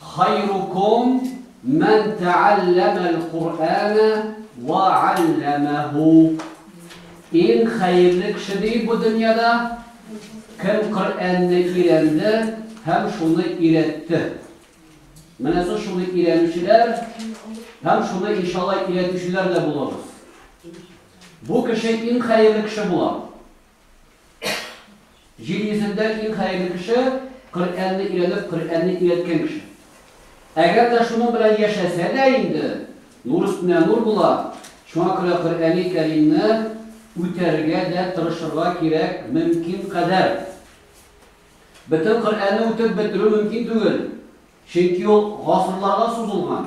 Хайрукум мән тәалләмәл Куръана вә алләмәһу. Иң хәерле кеше ди бу дөньяда, кем Коръәнне өйрәнде һәм шуны өйрәтте. Менә сез шуны өйрәнүчеләр һәм шуны иншалла өйрәтүчеләр дә булыгыз. Бу кеше иң хәерле кеше була. Җир йөзендә иң хәерле кеше, Коръәнне өйрәнеп, Коръәнне өйрәткән кеше. Әгәр дә шуның белән яшәсә дә инде, нур өстенә нур була, шуңа күрә Коръәни Кәримне үтәргә дә тырышырга кирәк мөмкин кадәр. Бөтен Коръәнне үтеп бетерү мөмкин түгел, чөнки ул гасырларга сузылган.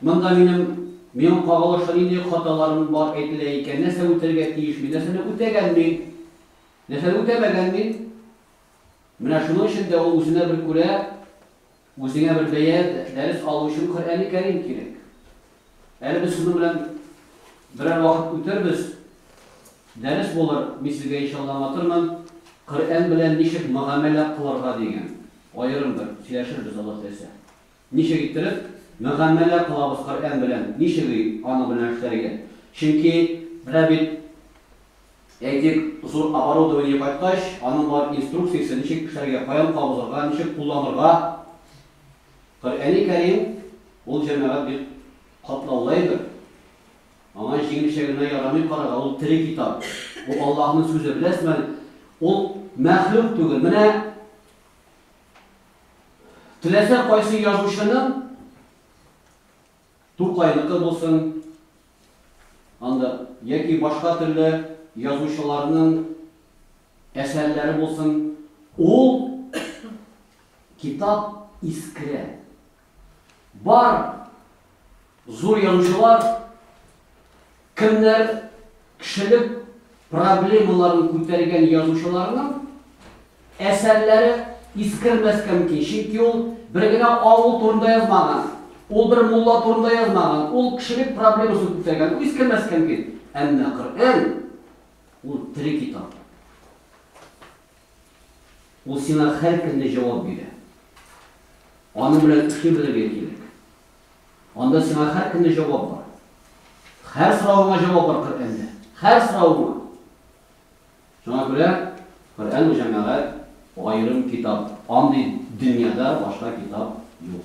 Монда минем миңа кагылышлы нинди хаталарым бар әйтелә икән, нәрсә үтәргә тиеш мин, нәрсәне үтәгән мин, нәрсәне үтәмәгән мин? Менә шуның өчен дә ул үзенә бер күрә, үзеңә бер бәя, дәрес алу өчен Коръәни Кәрим кирәк. Әле без шуның белән берәр вакыт үтербез, дәрес булыр, мин сезгә иншалла аңлатырмын, Коръән белән ничек мөгамәлә кылырга дигән, аерым бер сөйләшербез Алла теләсә. Ничек иттереп мөгамәлә кылабыз Коръән белән, ничек ий, аның белән эшләргә? Чөнки, менә бит, әйтик, зур оборудование кайткач, аның бар инструкциясе, ничек эшләргә, каян кабызырга, ничек кулланырга. Коръәни Кәрим, ул, җәмәгать, бик катлаулы әйбер. Аңа җиңелчә генә ярамый карарга, ул тере китап. Ул Аллаһының сүзе, беләсезме әле, ул мәхлук түгел. Менә Теләсә кайсы язучының Тукайныкы булсын, анда яки башка төрле язучыларның әсәрләре булсын, ул китап искерә. Бар зур язучылар кемнәр кешелек проблемаларын күтәргән язучыларның әсәрләре искермәскә мөмкин. Чөнки ул бер генә авыл турында язмаган, ул бер мулла турында язмаган, ул кешелек проблемасын күтәргән, ул искермәскә мөмкин. Әмма Коръән ул тере китап. Ул сиңа һәр көнне җавап бирә. Аның белән эшли белергә кирәк. Анда сиңа һәр көнне җавап бар. Һәр соравыңа җавап бар Коръәндә. Һәр соравыңа. Шуңа күрә Коръән бу җәмәгать аерым китап. Андый дөньяда башка китап юк.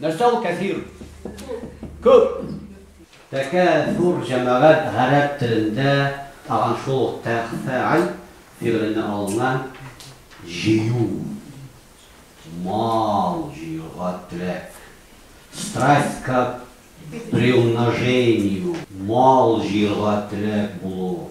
Нәрсә ул кәсир? Күп! Тәкә зур җәмәгать гарәп телендә тагын шул ук тәгъфә'аль фигыленнән алынган җыю, мал җыюга теләк, страсть к приумножению, мал җыерга теләк булу,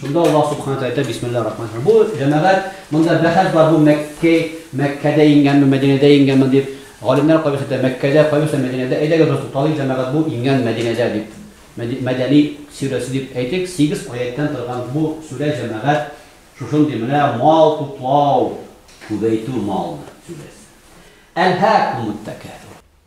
Шунда Аллаһ Субхана Тәгалә әйтә, Бисмиллаһи рахмани рахим. Бу җәмәгать, монда бәхәс бар, бу Мәккә, Мәккәдә иңгәнме, Мәдинәдә иңгәнме дип. Галимнәр кайберсе әйтә, Мәккәдә, кайберсе Мәдинәдә. Әйдәгез, бераз тукталыйк, җәмәгать, бу иңгән Мәдинәдә дип. Мәдәни сүрәсе дип әйтик, сигез аятьтән торган бу сүрә, җәмәгать, шушындый менә мал туплау, күбәйтү малны, сүрәсе. Әлһәкумут тәкәсүр.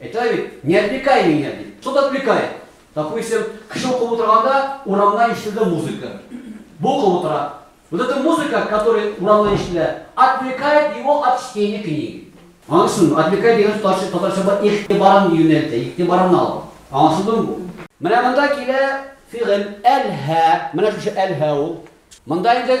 Әйтә бит, не отвлекай меня, ди. Что ты отвлекает? Допустим, кеше укып утырганда, урамнан ишетелде музыка. Бу укып утыра. Вот эта музыка, которая урамнан ишетелә, отвлекает его от чтения книги. Аңлашылдымы? Отвлекай дигән сүз татарча, татарча бар, игътибарын юнәлтә, игътибарын ала. Аңлашылдымы бу? Менә монда килә фигыль әл-һә. Менә шушы әл-һә ул. Монда инде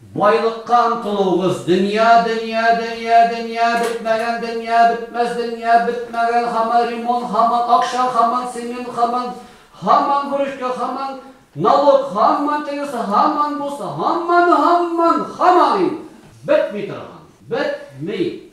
Байлыкка омтылуыгыз, дөнья, дөнья, дөнья, дөнья, бетмәгән дөнья, бетмәс дөнья, бетмәгән, һаман ремонт, һаман акча, һаман цемент, һаман, һаман выручка, һаман налог, һаман тегесе, һаман бусы, һаман, һаман, һаман инде бетми торган, бетми,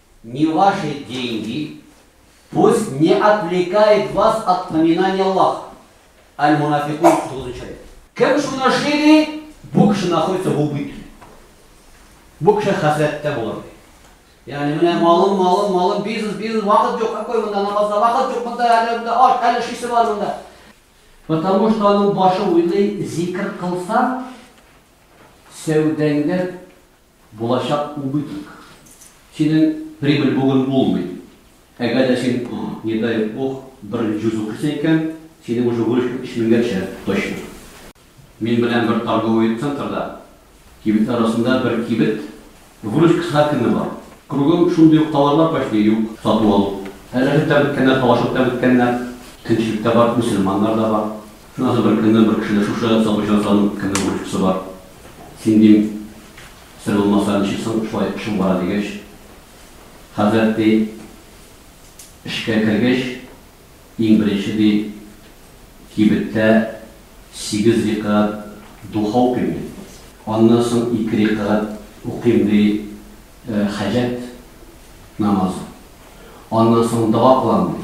Не ваши деньги, пусть не отвлекает вас от поминания Аллаха. Аль-Мунафикун, 39 аят. Кем шуны эшли, ди, бу кеше находится в убытке. Бу кеше хәсрәттә булыр. Ягъни менә малым, малым, малым, бизнес, бизнес, вакыт юк, какой монда намазда вакыт юк, монда әле монда аш, әле шисе бар монда. Потому что аның башы уйлый, зикр кылсаң, сәүдәңдә Булачак убыток. Синең прибыль бүген булмый. Әгәр дә син, не дай Бог, бер җүз укыйсың икән, синең уже выручка өч меңгәчә точно. Мин беләм бер торговый центрда, кибетләр арасында бер кибет, выручкасы һәркемнең бар. Кругом шундый ук товарлар почти юк, сату-алу. Рәшәт тә беткәннәр, талашып та беткәннәр. Көнчелек тә бар, мөселманнар да бар. Назы бер көнне бер кешедә шушы Сабырҗан санын кемнең бурычкысы бар? Син, дим, сер булмаса, ничек соң шулай эшең бара, дигәч, хәзрәт, ди, эшкә кергәч, иң беренче, ди, кибеттә сигез рикәгать духа укыйм, ди. Аннан соң ике рикәгать укыйм, ди, хаҗәт намазы. Аннан соң дога кылам, ди.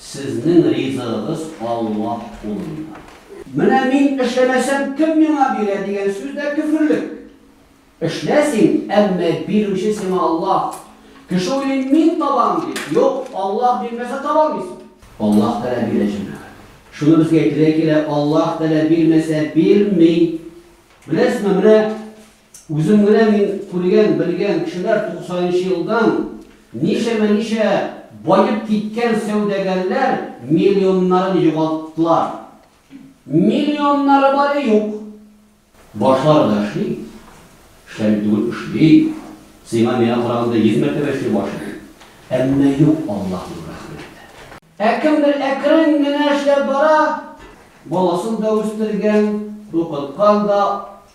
Сезнең ризыгыгыз Аллаһ кулында. Менә мин эшләмәсәм, кем миңа бирә, дигән сүз дә көферлек. Эшлә син, әмма бирүче сиңа Аллаһ. Кеше уйлый, мин табам, ди. Юк, Аллаһ бирмәсә таба алмыйсың. Аллаһ Тәгалә бирә, җәмәгать. Шуны безгә әйтергә килә, Аллаһ Тәгалә бирмәсә бирми. Беләсезме, менә. Үзем генә мин күргән, белгән кешеләр туксанынчы елдан ничәмә-ничә баеп киткән сәүдәгәрләр миллионнарын югалттылар. Миллионнары бары юк. Башлары да эшли, эшләми түгел, эшли, сиңа-миңа караганда йөз мәртәбә эшли башы. Әмма юк, Аллаһның рәхмәте. Ә кемдер әкрен генә эшләп бара, баласын да үстергән, укыткан да,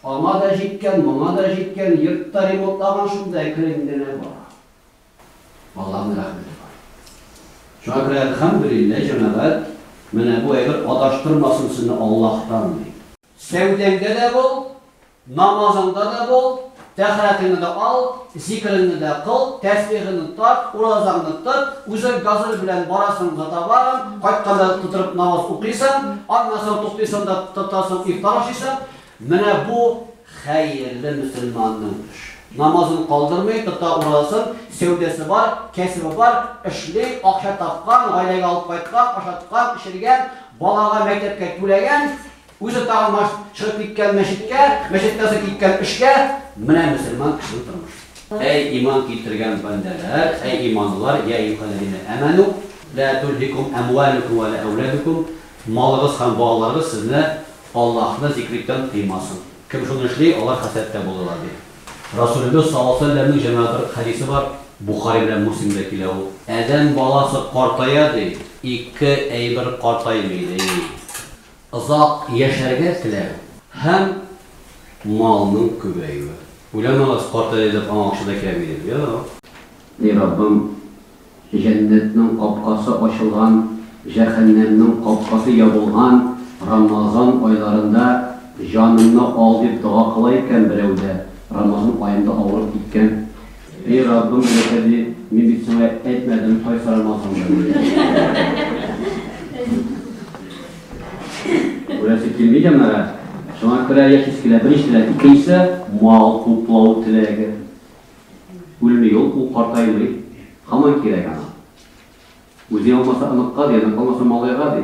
аңа да җиткән, моңа да җиткән, йорт та ремонтлаган, шунда әкрен генә бара. Аллаһның рәхмәте бар. Шуңа күрә, әлхәмдүлилләһ, җәмәгать, менә бу әйбер адаштырмасын сезне Аллаһтан, ди. Сәүдәңдә дә бул, Намазыңда да бул, тәһарәтеңне дә ал, зикереңне дә кыл, тәсбихеңне тарт, уразаңны тот, үзең газель белән барасың гытабарың, кайтканда тотырып намаз укыйсың, аннан соң туктыйсың да тотасың ифтар ашыйсың, менә бу хәерле мөселманның эше. Намазын калдырмый, тота уразасын, сәүдәсе бар, кәсебе бар, эшли, акча тапкан, гаиләгә алып кайткан, ашаткан, эчергән, балага мәктәпкә түләгән, Үзе тагын баш чыгып киткән мәчеткә, мәчеттә үзе киткән эшкә, менә мөселман кешенең тормышы. Әй иман китергән бәндәләр, әй иманлылар, йә июхәлләзинә әмәну, лә тулһикум әмвалүкүм вә лә әүләдүкүм, малыгыз һәм балаларыгыз сезне Аллаһны зикриттән тыймасын. Кем шуны эшли, алар хәсрәттә булырлар, ди. Расулебез саллаллаһу галәйһи вә сәлләмнең җәмә бер хәдисе бар, Бухари белән Муслимдә килә ул. Адәм баласы картая, ди, ике әйбер картаймый, ди. Озак яшәргә теләү һәм малның күбәюе. Уйламагыз, картайды дип аңа акча да кирәкми дип. Юк. Эй Раббым, җәннәтнең капкасы ачылган, җәһәннәмнең капкасы ябылган Рамазан айларында җанымны ал дип дога кыла икән берәү дә, Рамазан аенда авырып киткән, Эй Раббым өләшә ди, мин бит сиңа әйтмәдем, кайсарым алсам да ди. Үләсе килми җаннары, шуңа күрә яшисе килә, беренче теләк, икенчесе мал туплау теләге. Үлми ул, ул картаймый, хаман кирәк аңа. Үзе алмаса оныкка ди, оныкка алмаса малайга ди.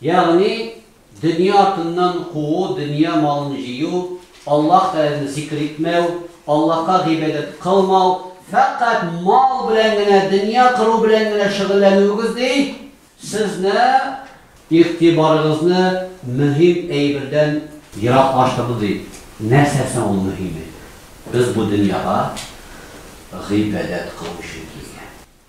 Ягъни, дөнья артыннан куу, дөнья малын җыю, Аллаһ Тәгаләне зикер итмәү, Аллаһка гыйбадәт кылмау, фәкать мал белән генә, дөнья кыру белән генә шөгыльләнүегез ди, сезне, игътибарыгызны мөһим әйбердән ераклаштырды, ди. Нәрсә соң ул мөһиме? Без бу дөньяга гыйбадәт кылу өчен килгән.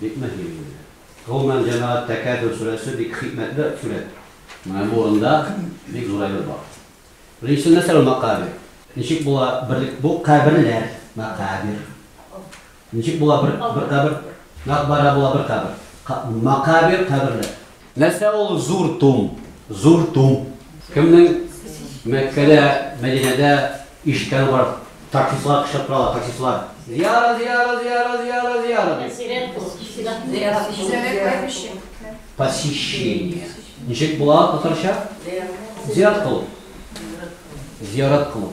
Бик мөһим инде. Гомумән, җәмәгать тәкәббүр сүрәсе бик хикмәтле сүрәт. Менә монда бик зур әйбер бар. Беренчесе нәрсә ул мәкабир? Ничек була берлек бу каберләр, мәкабир? Ничек була бер кабер? Мәкбарә була бер кабер. Мәкабир, каберләр. Нәрсә ул зур тум? Зур тум. Кемнең Мәккәдә, Мәдинәдә ишеткәне бар? Таксистлар кычкырып торалар, таксистлар. Зияра, зияра, зияра, зияра, зияра дип. Сирәк бу. Зиярат итү. Зиярат итү. Посещение. Ничек була татарча? Зиярат кылу. Зиярат кылу.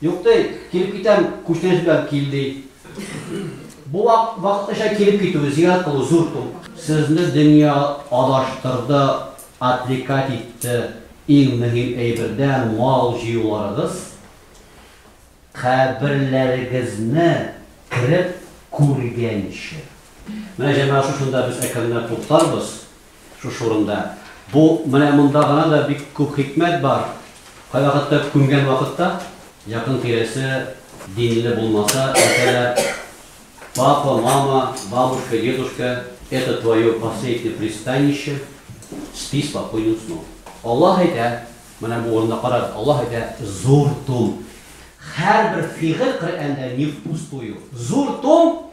Юк ди, килеп китәм, күчтәнәч белән кил, ди. Бу вакытлыча килеп китү, зиярәт кылу зур тум. Сезне дөнья адаштырды, отвлекать итте, иң мөһим әйбердән мал җыюларыгыз, каберләрегезне кереп күргәнче. Менә җәмәгать шушында без әкренләп туктарбыз. Шушы урында бу менә монда гына да бик күп хикмәт бар, кайвакытта күмгән вакытта якын тирәсе динле булмаса, әйтәләр, Папа, мама, бабушка, дедушка, это твое последнее пристанище, спи спокойным сном. Аллаһ әйтә, менә бу урында карагыз, Аллаһ әйтә, зур том. Һәрбер фигыль Коръәндә не впустую. Зур том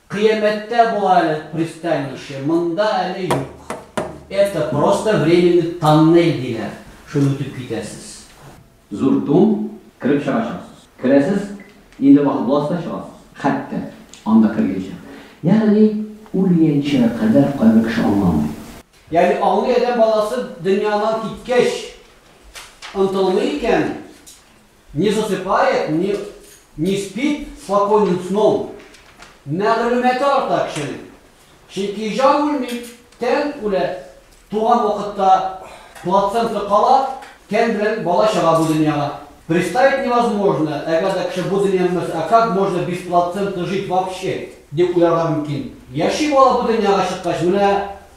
Кыямәттә була әле пристанище, монда әле юк. Это просто временный тоннель диләр, шул үтеп китәсез. Зур тун, кереп чыгачаксыз. Керәсез, инде вакыт буласы да чыгасыз. Хәтта анда кергәнче. Ягъни үлгәнче кадәр кайбер кеше аңламый. Ягъни аңлый адәм баласы дөньядан киткәч онтылмый икән. Не засыпает, не не спит спокойным сном, мәгълүматы арта кешенең. Чөнки җан үлми, тән үлә. Туган вакытта плацента кала, тән белән бала чыга бу дөньяга. Представить невозможно, әгәр дә кеше бу дөньяны белмәсә, а как можно без плаценты жить вообще? дип уйларга мөмкин. Яши бала бу дөньяга чыккач, менә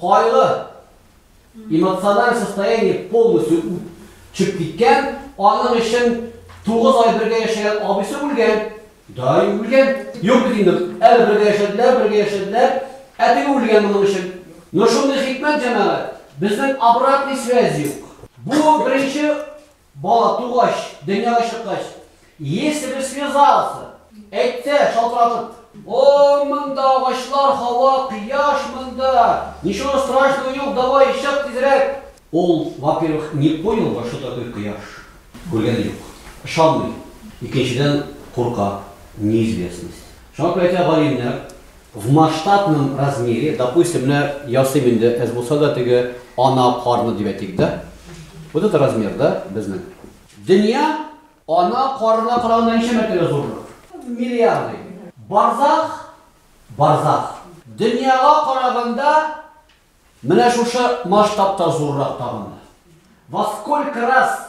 Кайгы, эмоциональ состояние полностью ү чеп киткән, аның өчен тугыз ай бергә яшәгән абыйсы үлгән, даи үлгән. Юк бит инде, әле бергә яшәделәр, бергә яшәделәр, ә теге үлгән моның өчен. Ну шундый хикмәт, җәмәгать, безнең обратный связь юк. Бу беренче Бала тугач, дөньяга чыккач, Если бы связался, әйтсә, шалтыратып. О, монда агачлар, һава, кояш монда! Ничего страшного юк, давай, чык тизрәк! Ул, во-первых, не понял бы, что такое кояш, күргәне юк, ышанмый, икенчедән, курка, неизвестность. Шуңа күрә әйтә галимнәр. В масштабном размере, допустим, менә ясыйм инде, әз булса да теге ана карны дип әйтик, да? Вот это размер, да, безнең? Дөнья ана карына караганда ничә мәртәбә зуррак? В миллиарды. Барзах, барзах. Дөньяга караганда менә шушы масштабта зуррак тагын да. Во сколько раз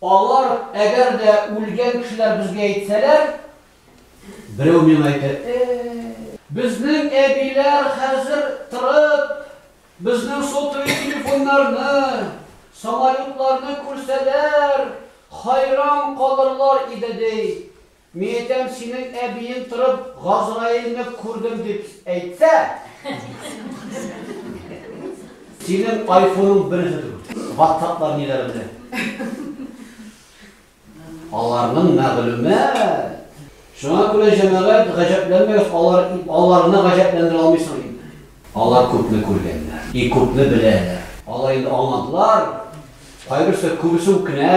Алар, әгәр дә үлгән кешеләр безгә әйтсәләр, берәү миңа әйтер, Э-э-э! Безнең әбиләр хәзер торып, безнең сотовый телефоннарны, самолетларны күрсәләр, хайран калырлар иде, ди. Мин әйтәм, синең әбиең торып, Газраилне күрдем дип әйтсә! Синең айфоның берүзе түгел. Ватсаплар ниләр белә. Аларның мәгълүмат. Шуңа күрә җәмәгать гаҗәпләнмәгез, алар аларны гаҗәпләндерә алмыйсың инде. Алар күпне күргәннәр и күпне беләләр. Алар инде аңладылар. Кайберсе күбесе үкенә.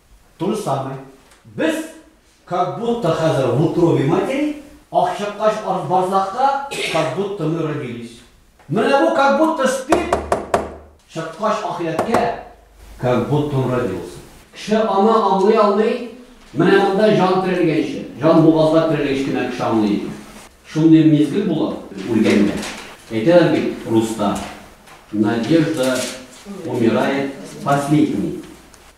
То же самое. Без как будто хәзер в утробе матери, ах чыккач ар- барзахта, как будто мы родились. Менә бу как будто спит, чыккач ахирәткә, как будто он родился. Кеше аны аңлый алмый, менә монда җан терелгәнче, җан бугазга терелгәч кенә кеше аңлый икән. Шундый мизгел була, үлгәндә. Әйтәләр бит руста, Надежда умирает последней.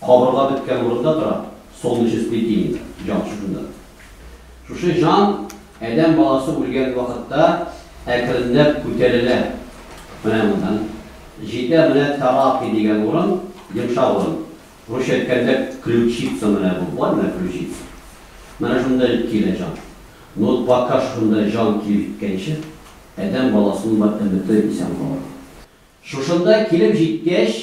Кабырга беткән урында тора, солнечный сплетение, җан шушында. Шушы җан адәм баласы үлгән вакытта әкренләп күтәрелә. Менә моннан җитә менә таракы дигән урын, йомшак урын. Русча әйткәндә, ключица менә бу бар, менә ключица. Менә шунда килә җан. Ну, пока шушында җан килеп җиткәнче, адәм баласының бар өмете исән калырга. Шушында килеп җиткәч,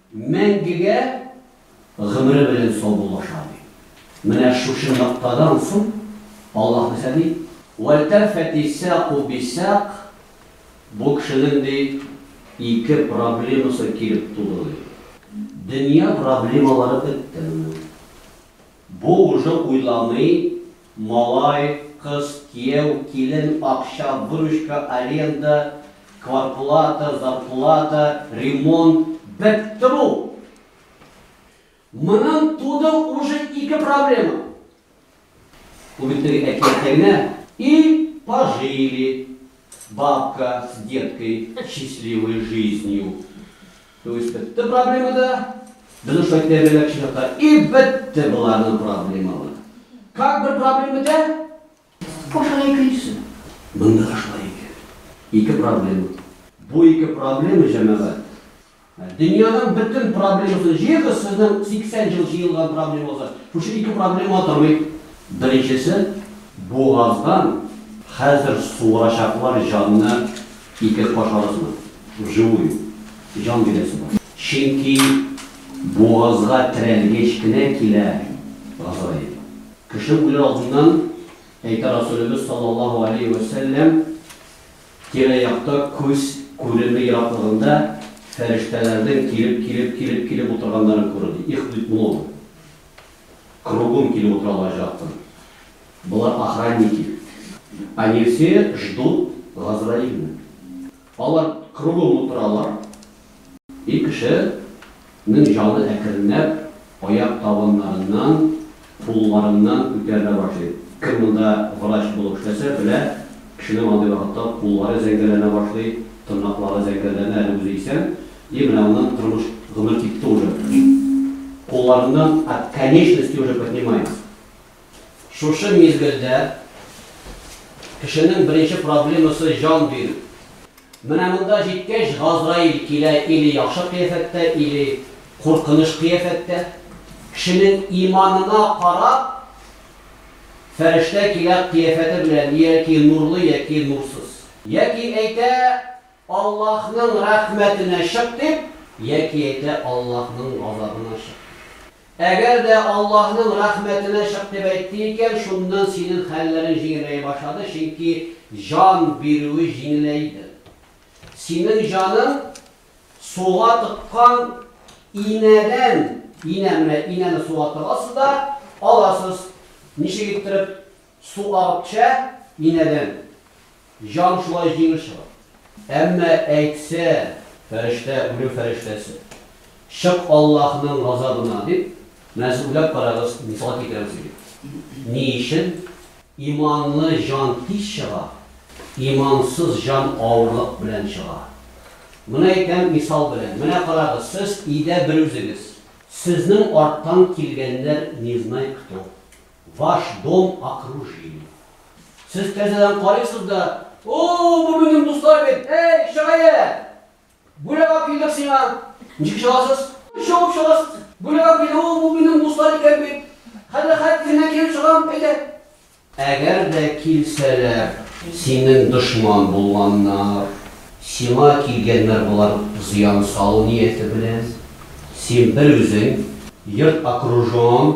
Мәңгегә гомере белән саубуллаша, ди. Менә шушы ноктадан соң Аллаһ нәрсә ди? Вәлтәфәти сәкү бисәк, бу кешенең, ди, ике проблемасы килеп туды, ди. Дөнья проблемалары бетте моның. Бу уже уйламый, Малай, кыз, кияү, килен, акча, выручка, аренда, кварплата, зарплата, ремонт, бетте бу! Моннан туды уже ике проблема. Бу бит теге әкияттә генә. И пожили. Бабка с деткой счастливой жизнью. То есть бетте проблема да. Безнең шулай тәрбияләп чыгата. И бетте боларның проблемалары. Как бер проблема бетә? Башына икенчесе. Монда да шулай икән. Ике проблема. Бу ике проблема, җәмәгать, Дөньяның бөтен проблемасын җыегыз, сезнең 80 ел җыелган проблемагызны. Шушы ике проблема тормый. Беренчесе, бугаздан хәзер суырачаклар җанны ике каш арасына. Вживую. Җан бирәсе бар. Чөнки бугазга терәлгәч кенә килә Газраил. Кеше үләр алдыннан, әйтә Расулебез саллаллаһу алейһи вә сәлләм, Тирә-якта күз күреме ераклыгында фәрештәләрдән килеп, килеп, килеп, килеп утырганнарын күрде. Их бит много. Кругом килеп утыралар җакын. Болар охранники. Они все ждут Газраилны. Алар кругом утыралар. Ир кеше нең җаны әкренләп аяк табаннарыннан, кулларыннан күтәрелә башлый. Кем монда врач булып эшләсә, белә, кешенең андый вакытта куллары зәңгәрләнә башлый, тырнаклары зәңгәрләнә, әле үзе исән, и менә аннан тормыш, гомер китте уже. Кулларыннан, а конечности уже поднимаются. Шушы мизгелдә кешенең беренче проблемасы, җан бирү. Менә монда җиткәч, Газраил килә или яхшы кыяфәттә, или куркыныч кыяфәттә. Кешенең иманына карап, фәрештә килә кыяфәте белән, яки нурлы, яки нурсыз. Яки әйтә, Аллаһның рәхмәтенә чык дип, яки әйтә, Аллаһның газабына чык дип. Әгәр дә Аллаһның рәхмәтенә чык дип әйтте икән, шуннан синең хәлләрең җиңеләя башлады, чөнки җан бирүе җиңеләйдер. Синең җаның суга тыккан инәдән, инә, менә инәне суга тыгасыз да аласыз, ничек иттереп? Су акча инәдән, җан шулай җиңел чыга. Әмма әйтсә фәрештә, үлем фәрештәсе, Чык Аллаһның газабына, дип, менә сез уйлап карагыз, мисал китерәм сезгә. Ни өчен? Иманлы җан тиз чыга, имансыз җан авырлык белән чыга. Моны әйтәм мисал белән. Менә карагыз, сез өйдә берүзегез. Сезнең арттан килгәннәр не знай кто. Ваш дом окружили. Сез тәрзәдән карыйсыз да, О-о, бу безнең дуслар бит! Әй, чырае! Бүләк алып килдек сиңа! Ничек чыгасыз? Чабып чыгасыз! Бүләк алып килдек, О-о, бу безнең дуслар икән бит! Хәзер хәт исеннән килеп чыгам, әйдә! Әгәр дә килсәләр, синең дошман булганнар. Сиңа килгәннәр болар зыян салу нияте белән. Син берүзең, йорт окружен.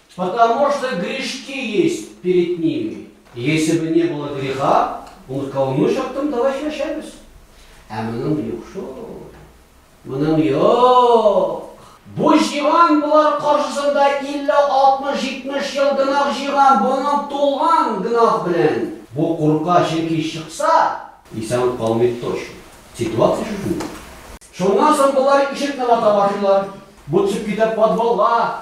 Потому что грешки есть перед ними. Если бы не было греха, он сказал, ну что там, давай чешемся. А мы нам юг, что? Мы нам юг. Бу җыйган болар каршысында 50-60-70 ел гынах җыйган, бунан тулган гынах белән. Бу курка чөнки чыкса, исән калмый точно. Ситуация шушы. Шуннан соң болар ишекне вата башлыйлар. Бу төшеп китә подвалга,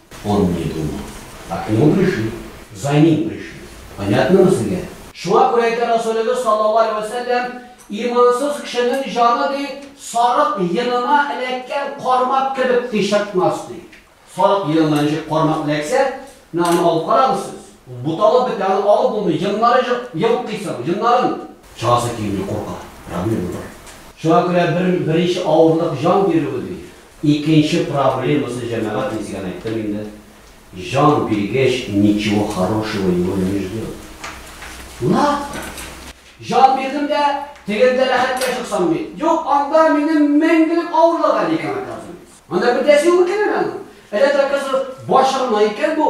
Он не думал. А к нему пришли. За ним пришли. Понятномо сезгә? Шуңа күрә әйтә Расулебез саллаллаһу алейһи вә сәлләм, Имансыз кешенең җаны, ди, сарык йонына эләккән кармак кебек, ди, чыкмас, ди. Сарык йонына ничек кармак эләксә, менә аны алып карагыз сез. Ул буталып бетә, аны алып булмый, йоннары җык, йолкыйсың, йоннарын. Чыгасы килми, курка. Проблема бар. Шуңа күрә бер, беренче авырлык җан бирү, ди. Икенче проблемасы җәмәгать мин сезгә әйттем инде. Җан биргеч ничего хорошего его не ждет. Лап! Җан бирдем дә, тегендә рәхәткә чыксам ди. Юк, анда минем мәңгелек авырлык әле икән, оказывается. Анда бер дә син үкенәме? Әллә дә, оказывается, башы гына икән бу.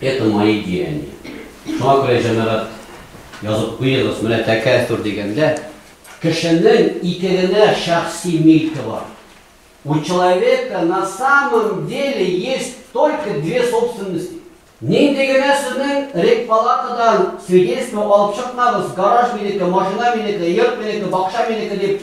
Это мои деяния. Шуңа күрә, җәмәгать, язып куегыз, менә тәкәсүр дигәндә, кешенең ике генә шәхси милке бар. У человека на самом деле есть только две собственности. Нинди генә сезнең рекпалатадан свидетельство алып чыкмагыз, гараж минеке, машина минеке, йорт минеке, бакча минеке дип,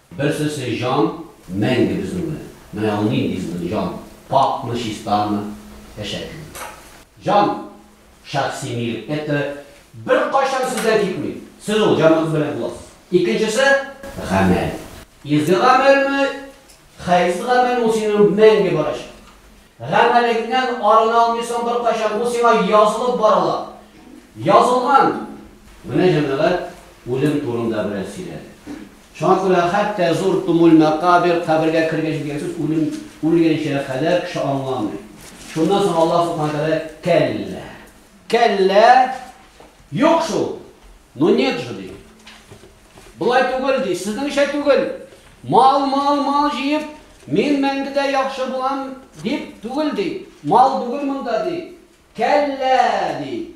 Берсесе җан, мәңге безнеңме? Менә ул нинди җан, пакьмы, чистамы, әшәкеме? Җан, шәхси милек, это беркайчан сездән китми. Сез ул җаныгыз белән буласыз. Икенчесе, гамәл. Изге гамәлме, хәерсез гамәлме, ул синең мәңге барачак. Гамәлеңнән арына алмыйсың беркайчан, ул сиңа язылып барыла. Язылган! Менә җәмәгать үлем турында бераз сөйләде. Шуңа күрә хәтта зур Тумуль-мәкабир, кабергә кергәнче, дигән сүз үлем, үлгәнчә кадәр кеше аңламый. Шуннан соң Аллаһ Субхана Тәгалә кәллә. Кәллә, юк шул. Ну нет же, ди. Болай түгел, ди, сезнеңчә түгел. Мал, мал, мал җыеп, мин мәңгедә яхшы булам, дип түгел, ди. Мал түгел монда, ди. Кәллә, ди.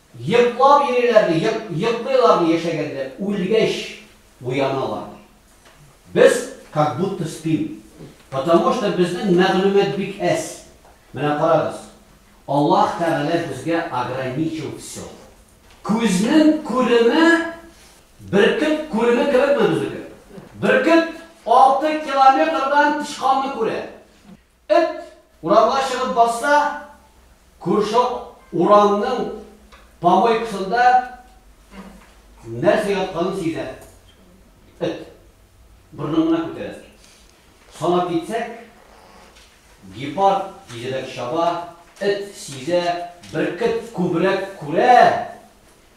Йоклап йөриләр, ди, йок, йоклыйлар, ди, яшәгәндә, үлгәч уяналар, ди. Без как будто спим, потому что безнең мәгълүмат бик әз. Менә карагыз, Аллаһ Тәгалә безгә ограничил всё. Күзнең күреме бөркет күреме кебекме безнеке? Бөркет алты километрдан тычканны күрә. Эт урамга чыгып басса, күрше урамның помойкасында нәрсә ятканын сизә. Эт борынын гына күтәрә. Санап китсәк, гепард тизрәк чаба, эт сизә, бөркет күбрәк күрә.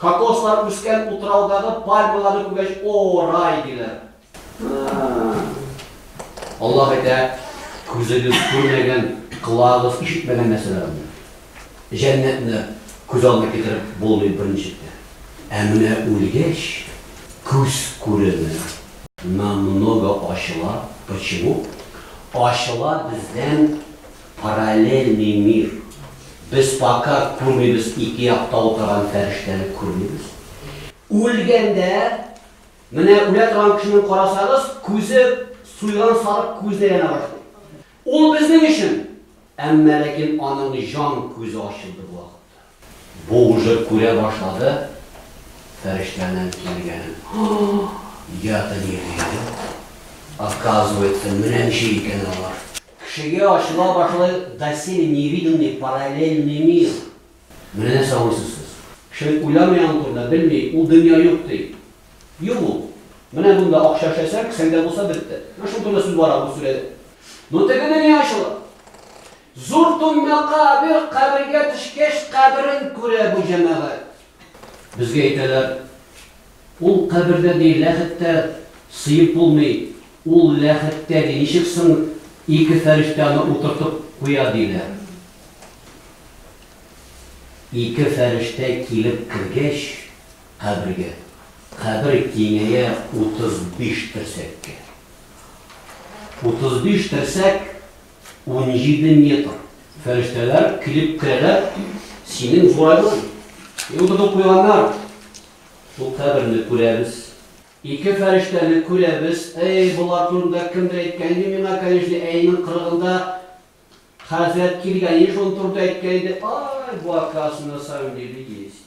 Кокослар үскән утраудагы пальмаларны күргәч, О, рай! диләр. Аллаһ әйтә, Күзегез күрмәгән, колагыгыз ишетмәгән нәрсәләрне, җәннәтне күз алдына китереп булмый берничек тә. Ә менә үлгәч, күз күреме намного ачыла. Почему? Ачыла бездән Параллельный мир. Без пока күрмибез, ике якта утырган фәрештәне күрмибез. Үлгәндә, менә үлә торган кешене карасагыз, күзе суйган сарык күзенә әйләнә башлый. Ул безнең өчен, әмма ләкин аның җан күзе ачылды бу вакытта. Бу уже күрә башлады фәрештәнең килгәнен. Я ты не верю. Оказывается, менә ничек икән алар. Кешегә ачыла башлый доселе невиданный параллельный мир. Менә нәрсә уйлыйсыз сез. Кеше уйламый аның турында, белми, ул дөнья юк ди. Юк ул. Менә монда акча эшләсәң, кесәңдә булса, бетте. Менә шул турында сүз бара бу сүрәдә. Но теге дөнья ачыла. Зур Туньмака Абир кабергә төшкәч каберен күрә бу җәмәгать. Безгә әйтәләр, Ул кабердә ди ләхет тә сыеп булмый, ул ләхеттә ди ничек соң ике фәрештә аны утыртып куя диләр. Ике фәрештә килеп кергәч кабергә, кабер киңәя 35 терсәккә. 35 терсәк. Унҗиде метр. Фәрештәләр килеп керәләр, синең зурайдың. Йолдызың куйганнар. Шул каберне күрәбез. Ике фәрештәне күрәбез. Әй, болар турында кемдер әйткән иде миңа, конечно, әйнең кырыгында хәзрәт килгән иде, шуның турында әйткән иде. Ай, бу, оказывается, на самом деле есть.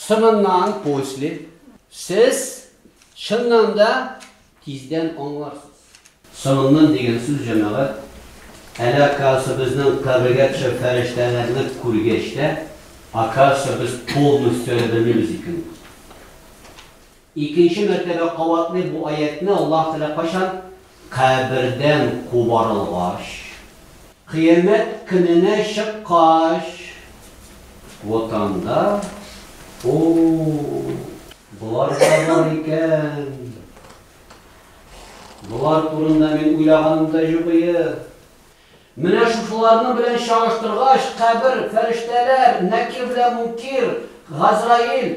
Соңыннан, после, сез, чыннан да, тиздән аңларсыз. Соңыннан дигән сүз, җәмәгать, әле, оказывается, безнең кабергә төшеп фәрештәләрне күргәч тә, оказывается, без полностью әле белмибез икән ул. Икенче мәртәбә кабатлый бу аятьне Аллаһ Тәгалә кайчан? Кабердән кубарылгач, кыямәт көненә чыккач. Вот анда, О-о-о, болар да бар икән. Болар турында мин уйлаганым да юк ие. Менә шушыларның белән чагыштыргач, кабер, фәрештәләр, Нәкир белән Мункир, Газраил,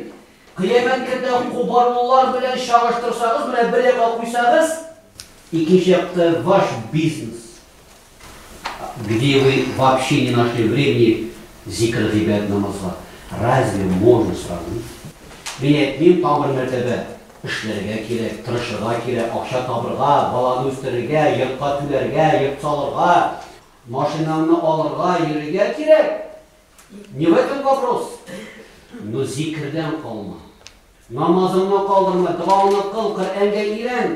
Кыямәт көндә кубарылулар белән чагыштырсагыз, менә бер якка куйсагыз, икенче якта ваш бизнес, где вы вообще не нашли времени зикер гыйбадәт намазга, разве можно сравнить? Мин әйтмим, тагын бер мәртәбә, Эшләргә кирәк, тырышырга кирәк, акча табырга, баланы үстерергә, йортка түләргә, йорт салырга, машинаңны алырга, йөрергә кирәк. Не в этом вопрос. Но зикердән калма. Намазыңны калдырма, догаңны кыл, Коръәнгә өйрән.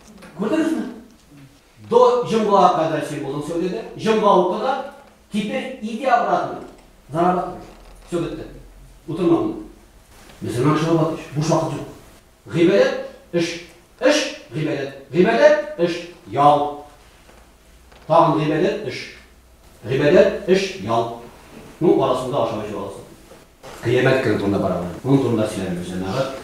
Күрдеңезме? До җомга кадәр син булдың сәүдәдә, җомга укыда, теперь иди обратно, зарабатывай. Все бетте. Утырма монда. Мөселман кеше вафат ич, буш вакыт юк. Гыйбадәт, эш, эш, гыйбадәт, гыйбадәт, эш, ял. Тагын гыйбадәт, эш. Гыйбадәт, эш, ял. Ну, арасында ашау-эчү аласың. Кыямәт көне турында барабыз. Моның турында сөйләмибез, җәмәгать.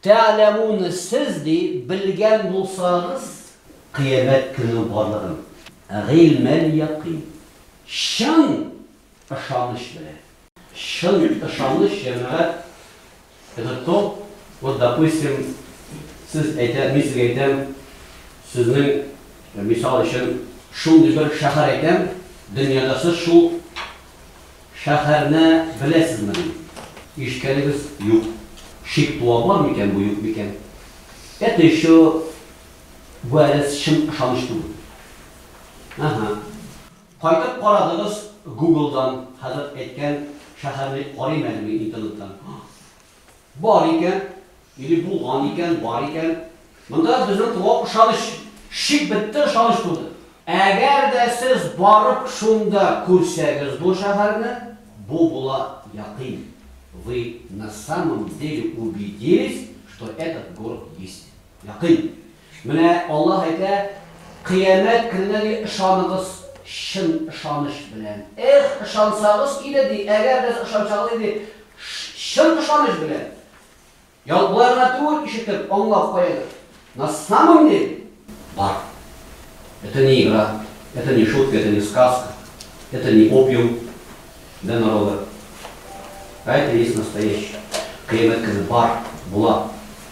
Тә'ләмүн Сез, ди, белгән булсагыз, кыямәт көне барлыгын, гыйльмәл-якыйн, чын ышаныч белән. Чын ышаныч, җәмәгать, это то, вот, допустим, сез әйтә, мин сезгә әйтәм, сезнең, мисал өчен, шундый бер шәһәр әйтәм, дөньяда сез шул. Шәһәрне беләсезмени? Ишкәнегез юк. Шик туа бар микән бу, юк микән? Это еще бу әле чын ышаныч түгел. Әһә. Кайтып карадыгыз гуглдан, хәзрәт әйткән шәһәрне карыйм әле мин интернеттан. Бар икән, или булган икән, бар икән. Монда безнең туган ышаныч, шик бетте, ышаныч туды. Әгәр дә сез барып шунда күрсәгез бу шәһәрне, бу була якин, вы на самом деле убедились, что этот город есть. Якин. Менә Аллаһ әйтә, Кыямәт көненә, ди, ышаныгыз чын ышаныч белән. Эх, ышансагыз иде, ди, әгәр дә ышансагыз иде, чын ышаныч белән. Ял болай гына түгел, ишетеп, аңлап куегыз. На самом деле, бар. Это не игра, это не шутка, это не сказка, это не опиум для народа. А это есть настоящее. Кыямәт көне бар, була.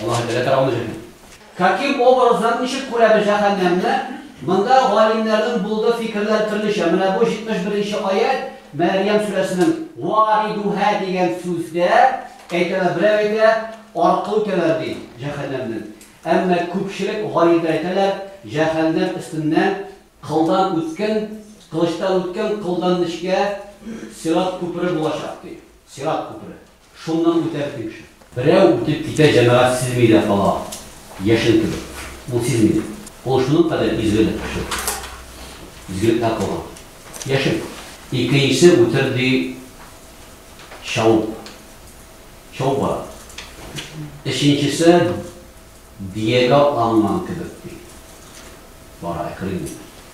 Аллаһы Тәгалә каравында җирне. Каким образом, ничек күрәбез җәһәннәмне? Монда галимнәрнең булды фикерләр төрлечә. Менә бу 71 нче аять, Мәрьям сүрәсенең. Варидуһа дигән сүздә, әйтәләр, берәү әйтә, аркы үтәләр, ди, җәһәннәмнең. Әмма күпчелек галимнәр әйтәләр, җәһәннәм өстеннән кылдан үткен, кылычтан үткен, кылдан нечкә сират күпере булачак, ди. Сират күпере. Шуннан үтәр кимче. Берәү үтеп китә Җәмәгать сизми дә кала, яшен кебек. Ул сизмидер. Ул шуның кадәр изгелек кеше. Изгелекләр кылган. Яшен. Икенчесе үтер ди чауып. Чауып бара. Өченчесе диягә атланган кебек ди. Бара, әкрен генә.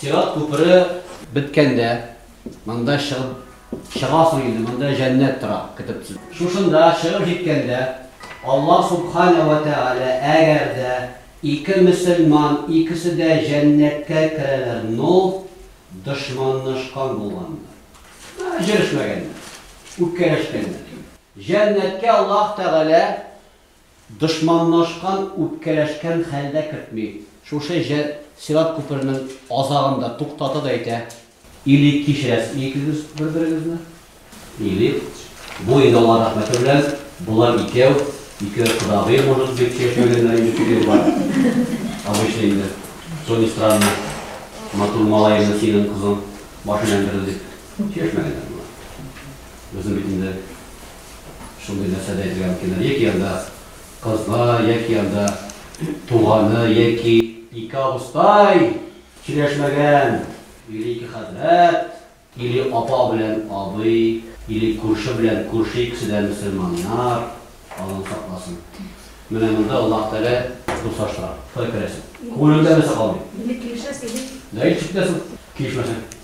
Сират күпере беткәндә, монда чыгып чыгасың инде, монда җәннәт тора, көтеп. Шушында чыгып җиткәндә, Аллаһ Субхана вә Тәгалә, әгәр дә ике мөселман икесе дә җәннәткә керәләр, но дошманнашкан булганнар, җөрешмәгәннәр, үпкәләшкәннәр. Җәннәткә Аллаһ Тәгалә Дошманлашкан, үпкәләшкән хәлдә кертми. Шушы җыр сират күпернең азагын да туктата да әйтә. Или кичерәсезме икегез бер-берегезне, или бу инде Алла рәхмәте белән болар икәү, ике кодагый может быть яшәгәннәр инде күп еллар. Обычно инде, что ни странно, матур малаемны синең кызың башын әндерде дип чишмәгәннәр болар. Безнең бит инде шундый нәрсә дә әйтергә мөмкин, яки анда кызга, яки анда туганы, яки ике абыстай сөйләшмәгән, или ике хәзрәт, или апа белән абый, или күрше белән күрше икесе дә мөселманнар, Аллам сакласын. Менә монда Аллаһ Тәгалә дуслаштыра. Кая керәсең? Күңелеңдә нәрсә калмый? Инде килешәсең бит. Дәлит итәсең, килешмәсәң.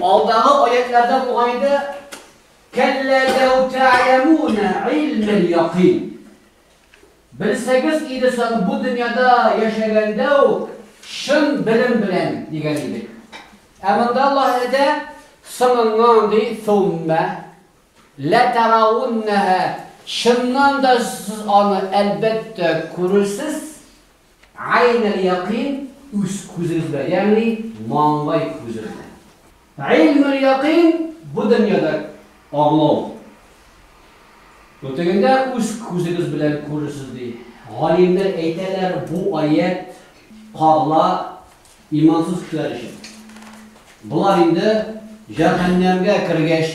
Алдагы аятьләрдә бугай да, Кәллә ләү тә'ләмүнә илмәл якин. Белсәгез иде соң, бу дөньяда яшәгәндә үк чын белем белән, дигән идек. Ә монда Аллаһ әйтә, соңыннан ди, суммә ләтәрәүннәһә, чыннан да сез аны, әлбәттә, күрерсез. Гайн әл-якыйн, үз күзегез белән, ягъни маңгай күзе белән. Гыйлм әл-якыйн, бу дөньяда аңлау. Бу тегендә үз күзегез белән күрерсез, ди. Галимнәр әйтәләр, бу аять кагыла имансыз кешеләр өчен. Болар инде җәһәннәмгә кергәч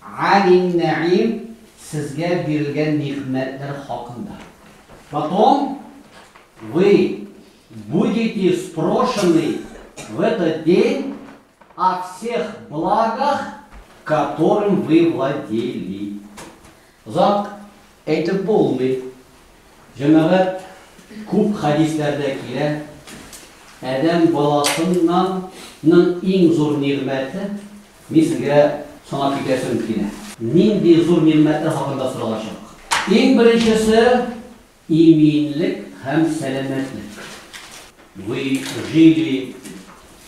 Алим Нәгыйм сезгә бирелгән нигъмәтләр хакында. Потом вы будете спрошены в этот день о всех благах, которым вы владели. Озак әйтеп булмый. Җәмәгать күп хәдисләрдә килә. Адәм баласыннан ның иң зур нигъмәте Мин сезгә санап китәсем килә. Нинди зур нигъмәтләр хакында соралачак? Иң беренчесе, иминлек һәм сәламәтлек. Вы жили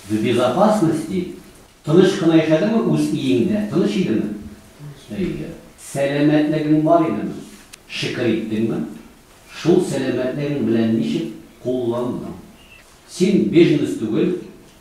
в безопасности? Тыныч кына яшәдеңме үз иеңдә? Тыныч идеме? Әйе. Сәламәтлегең бар идеме? Шөкер иттеңме? Шул сәламәтлегең белән ничек кулландың? Син беженец түгел,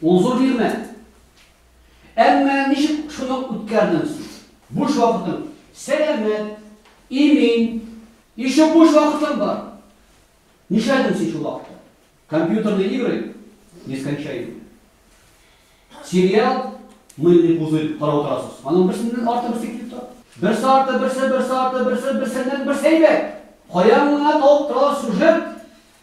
Ул зур нигъмәт. Әмма ничек шуны үткәрдең соң? Буш вакытың сәламәт, имин, еще буш вакытың бар. Нишләдең син шул вакытта? Компьютерные игры нескончаемые. Сериал Мыльный пузырь карап утырасыз. Аның берсеннән арты берсе килеп тора. Берсе арты, берсе, берсе арты, берсе, берсеннән берсе әйбәт. Каян гына табып торалар сюжет,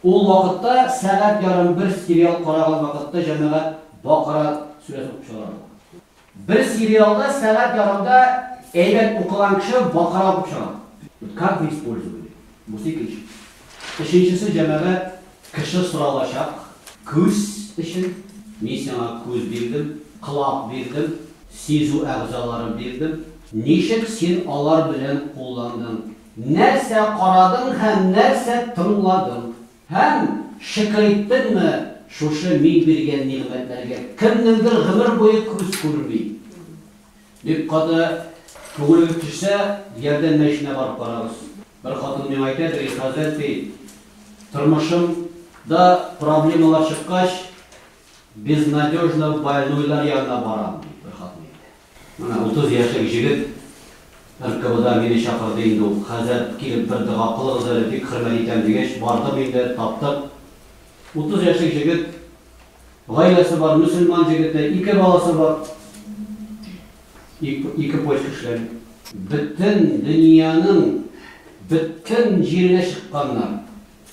Ул вакытта сәгать ярым бер сериал караган вакытта җәмәгать Бакара сүрәсен укып чыгара ала. Бер сериалда сәгать ярымда әйбәт укыган кеше Бакара укып чыга. Как вы использовали? Бусы икенче. Өченчесе җәмәгать кеше соралачак. Күз өчен. Мин сиңа күз бирдем, колак бирдем, сизү әгъзалары бирдем. Ничек син алар белән кулландың? Нәрсә карадың һәм нәрсә тыңладың? Һәм, шөкер иттеңме, шушы Мин биргән нигъмәтләргә кемнеңдер гомер буе күз күрми? Бик каты күңелегез төшсә, ярдәм мәченә барып карагыз. Бер хатын миңа әйтә, ди, хәзрәт, ди, тормышым да проблемалар чыккач, безнадежно больнойлар янына барам, ди, бер хатын әйтә. Менә утыз яшьлек җегет РКБда мине чакырды инде ул. Хәзрәт, килеп бер дога кылыгыз әле, бик хөрмәт итәм, дигәч, бардым инде, таптык. Утыз яшьлек җегет, гаиләсе бар, мөселман җегете, ике баласы бар. Ике почка эшләми. Бөтен дөньяның бөтен җиренә чыкканнар.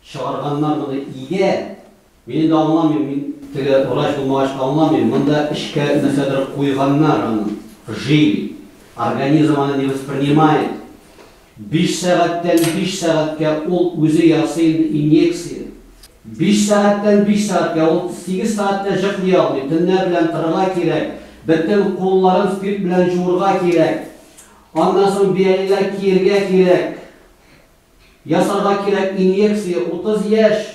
Чыгарганнар моны игә. Мин инде аңламыйм, мин теге врач булмагач аңламыйм, монда эчкә нәрсәдер куйганнар аны, жили, организм аны не воспринимает, биш сәгатьтән биш сәгатькә ул үзе ясый инде инъекция, биш сәгатьтән биш сәгатькә, ул сигез сәгать тә җыклый алмый, төннәр белән торырга кирәк, бөтен кулларын спирт белән җуырга кирәк, аннан соң биялиләр киергә кирәк, Ясарга кирәк инъекция 30 яшь.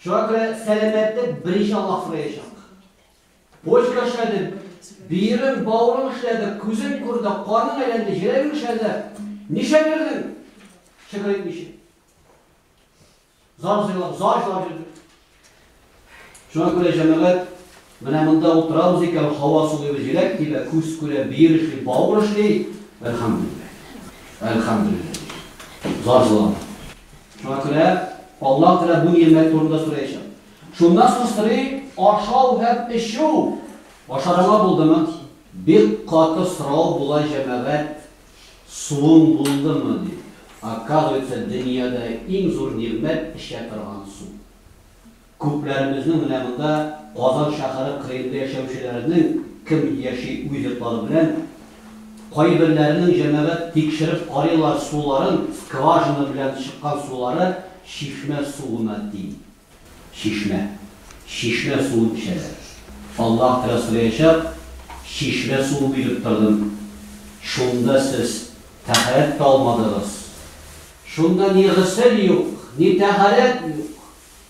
Шуңа күрә сәламәтлек беренче Аллаһ сораячак. Почка эшләде, биерең, бавырың эшләде, күзең күрде, каның әйләнде, җөрәгең эшләде. Ничә бирдең? Шөкер итмичә. Зар җырлап, зар җырлап йөрдең. Шуңа күрә, җәмәгать, менә монда утырабыз икән, һава сулыйбыз, җиләк тибә, күз күрә, бөер эшли, бавыр эшли, әлхәмдүлилләһ, әлхәмдүлилләһ, зар җыламый. Шуңа күрә Аллаһ Тәгалә бу нигъмәт турында сораячак. Шуннан соң сорый, ашау һәм эчү. Ашарыңа булдымы? Бик каты сорау була, җәмәгать, Суың булдымы? дип. Оказывается, дөньяда иң зур нигъмәт, эчә торган су. Күпләребезнең менә монда Казан шәһәре кырыенда яшәүчеләрнең кем яши үз йортлары белән, кайберләренең җәмәгать тикшереп карыйлар суларын, скважина белән чыккан сулары чишмә суына тиң. Чишмә. Чишмә суын эчәләр. Аллаһ Тәгалә сораячак, Чишмә суы биреп тордым, шунда сез тәһарәт тә алмадыгыз. Шунда ни госел юк, ни тәһарәт юк,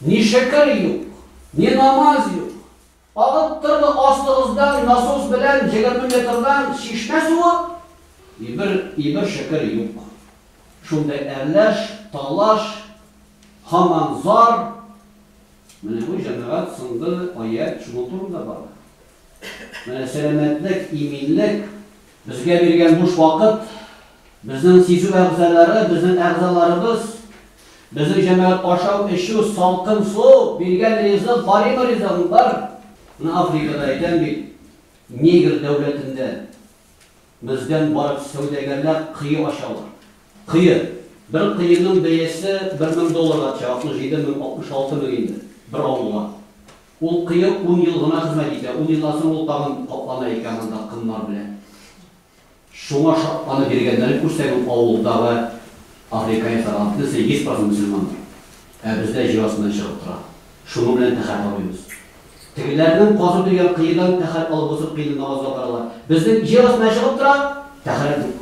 ни шөкер юк, ни намаз юк. Агып торды астыгыздан насос белән егерме метрдан чишмә суы? Ибер ибер шөкер юк. Шундый әрләш, талаш, һаман зар. Менә бу җәмәгать соңгы аять шуның турында бара. Менә сәламәтлек, иминлек, Безгә биргән буш вакыт, безнең сизү әгъзалары, безнең әгъзаларыбыз, безнең җәмәгать ашау, эчү, салкын су, биргән ризык, баримы ризыгың, бар! Менә Африкада, әйтәм бит, Нигр дәүләтендә бездән барып сәүдәгәрләр кое ачалар. Кое. Бер коеның бәясе бер мең долларга төшә, 67 мең, 66 мең инде, бер авылга. Ул кыю ун ел гына хезмәт итә. Ун елдан соң ул тагын каплана икән анда кыннар белән. Шуңа шатланып йөргәннәрен күрсәң, авылдагы африканецлардан бөтенесе йөз процент мөселмандыр. Ә бездә җир астыннан чыгып тора. Шуның белән тәхәр табыйбыз. Тегеләрнең казып йөргән кыедан тәхәр алып узып кыенны намазга баралар. Безнең җир астыннан чыгып тора, тәхәр юк.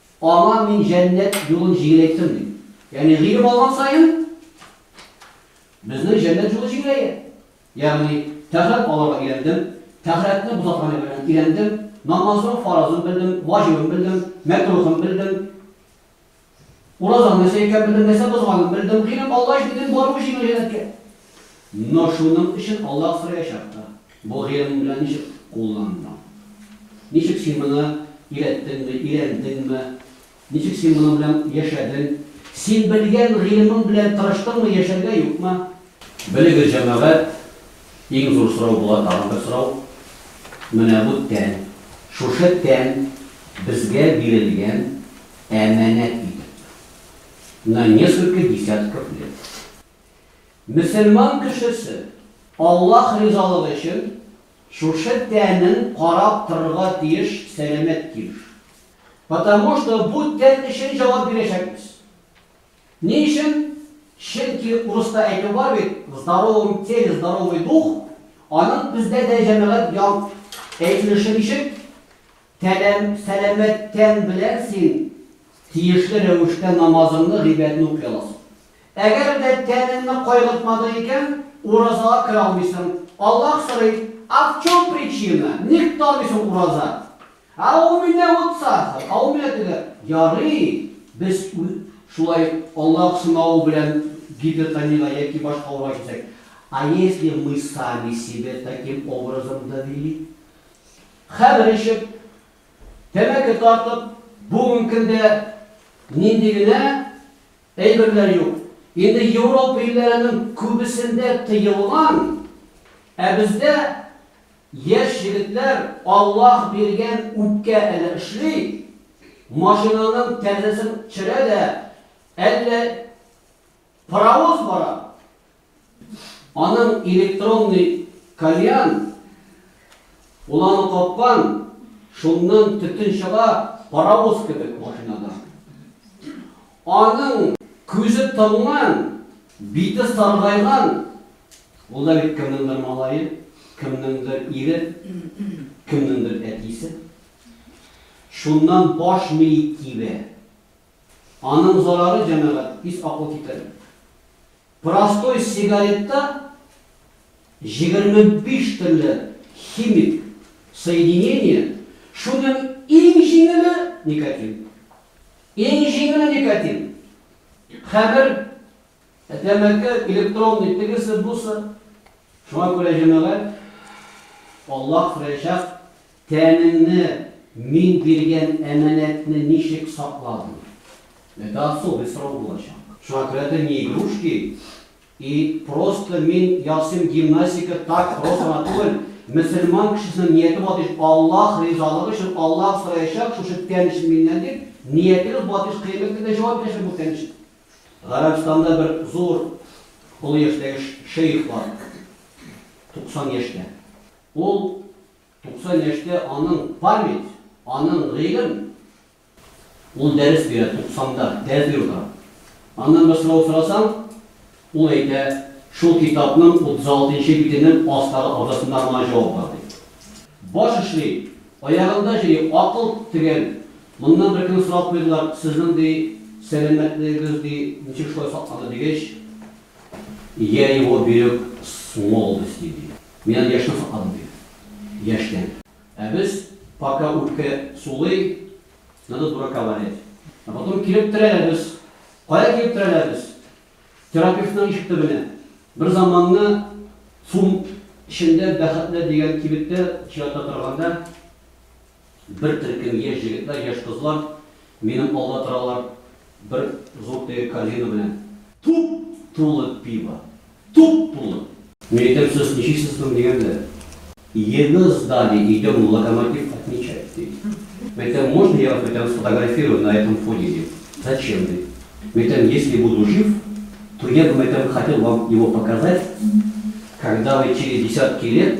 Аңа мин җәннәт юлын җигеләйттем, ди. Ягъни гыйлем алган саен безнең җәннәт юлы җигеләя. Ягъни тәһарәт алырга өйрәндем, тәһарәтне бозаткан әйберләрне өйрәндем, намазның фаразын белдем, ваҗибын белдем, мәкрухын белдем, уразаның нәрсә икәнен белдем, нәрсә бозганын белдем. Гыйлем алгач, бөтен баруы җиңел җәннәткә. Но шуның өчен Аллаһ сораячак та, Бу гыйлемең белән ничек кулландың? Ничек син моны өйрәттеңме, өйрәндеңме? Ничек син моның белән яшәдең? Син белгән гыйлемең белән тырыштыңмы яшәргә, юкмы? Белегез, җәмәгать, иң зур сорау була тагын бер сорау, Менә бу тән, шушы тән безгә бирелгән әманәт итеп, на несколько десятков лет. Мөселман кешесе, Аллаһ ризалыгы өчен, шушы тәнен карап торырга тиеш, сәламәт килеш. Потому что бу тән өчен җавап бирәчәкбез. Ни өчен? Чөнки урыста әйтү бар бит, в здоровом теле здоровый дух, аның бездә дә җәмәгать янг әйтелеше ничек? Тәнем, сәламәт тән белән син тиешле рәвештә намазыңны, гыйбәдәтне укый аласың. Әгәр дә тәнеңне кайгыртмадың икән, уразага керә алмыйсың. Аллаһ сорый, А в чем причина? Ник тота алмыйсың ураза? А у меня вот сахар, а у меня теге. Ярый, без шулай Аллаһ сынавы белән гипертониягә яки башка авыруга килсәк. А если мы сами себе таким образом довели? Хәмер эчеп, тәмәке тартып, бүген көндә нинди генә әйберләр юк. Инде Европа илләренең күбесендә тыелган, ә бездә яшь егетләр Аллаһ биргән үпкә әле эшли, машинаның тәрзәсен төшерә дә, әллә Паровоз бара. Аның электронный кальян уланы капкан, шуннан төтен чыга, паровоз кебек машинада. Аның күзе томган, бите саргайган, ул да бит кемнеңдер малае, кемнеңдер ире, кемнеңдер әтисе. Шуннан баш мие тибә. Аның зарары, җәмәгать, пис акыл китәр. Простой сигаретта җигерме биш төрле химик соединение, шуның иң җиңеле, никотин. Иң җиңеле никотин. Хәмер, тәмәке, электронный, тегесе, бусы. Шуңа күрә, җәмәгать, Аллаһ Рәҗәб Тәнеңне, мин биргән әманәтне ничек сакладың? Это особый срок булачак. Шуңа күрә это не игрушки и просто мин ясыйм гимнастика так просто гына түгел, мөселман кешесенең нияте бар ди, Аллаһ ризалыгы өчен Аллаһ сораячак шушы тән өчен миннән дип, ниятегез бар ди, кыямәт көндә җавап бирәчәк бу тән өчен. Гарәбстанда бер зур олы яшьтәге шейх бар, 90 яшьтә. Ул 90 яшьтә аның память, аның гыйлем. Ул дәрес бирә, 90 да, дәрес биреп утыра. Аннан бер сорау сорасаң, ул әйтә, шул китапның 36 нчы битенең астагы абзацында моңа җавап бар, ди. Баш эшли, аягында җөри, акыл тегән. Моннан беркөнне сорап куйдылар, сезнең, ди, сәламәтлегегез, ди, ничек шулай сакланды, дигәч, я его берег с молодости, ди. Мин әле яшьтән сакладым, диде. Яшьтән. Ә без, пока үпкә сулый, надо дурака валять. Ә потом килеп терәләбез. Кая килеп терәләбез? Терапевтның ишек төбенә. Бер заманны цум эчендә бәхетле дигән кибеттә чираттә торганда, Бер төркем яшь җегетләр, яшь кызлар минем алда торалар, бер зур теге корзина белән. Туп-тулы пиво! Туп-тулы! Мин әйтәм, сез ничексез соң, дигән дә, Его сдали, идем в Локомотив отмечать, ди. Мин әйтәм, можно я вас, мин әйтәм, сфотографирую на этом фоне, дим. Зачем, ди. Мин әйтәм, если буду жив, то я бы, мин әйтәм, хотел вам его показать, когда вы через десятки лет,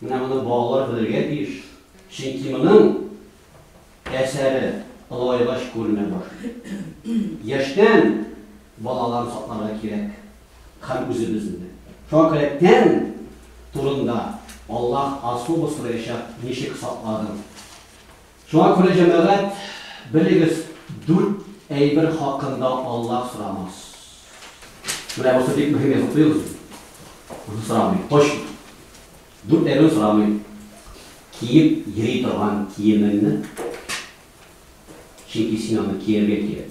Менә моны балалар белергә тиеш, чөнки моның әсәре олайгач күренә башлый. Яшьтән балаларны сакларга кирәк һәм үзебезне дә. Шуңа күрә тән турында Аллаһ особо сораячак, ничек сакладың? Шуңа күрә, җәмәгать, белегез, дүрт әйбер хакында Аллаһ сорамас. Менә бусы бик мөһим, язып куегыз. Бусын сорамый, точно. Дүрт әйберне сорамый. Киеп йөри торган киемеңне, чөнки син аны кияргә кирәк.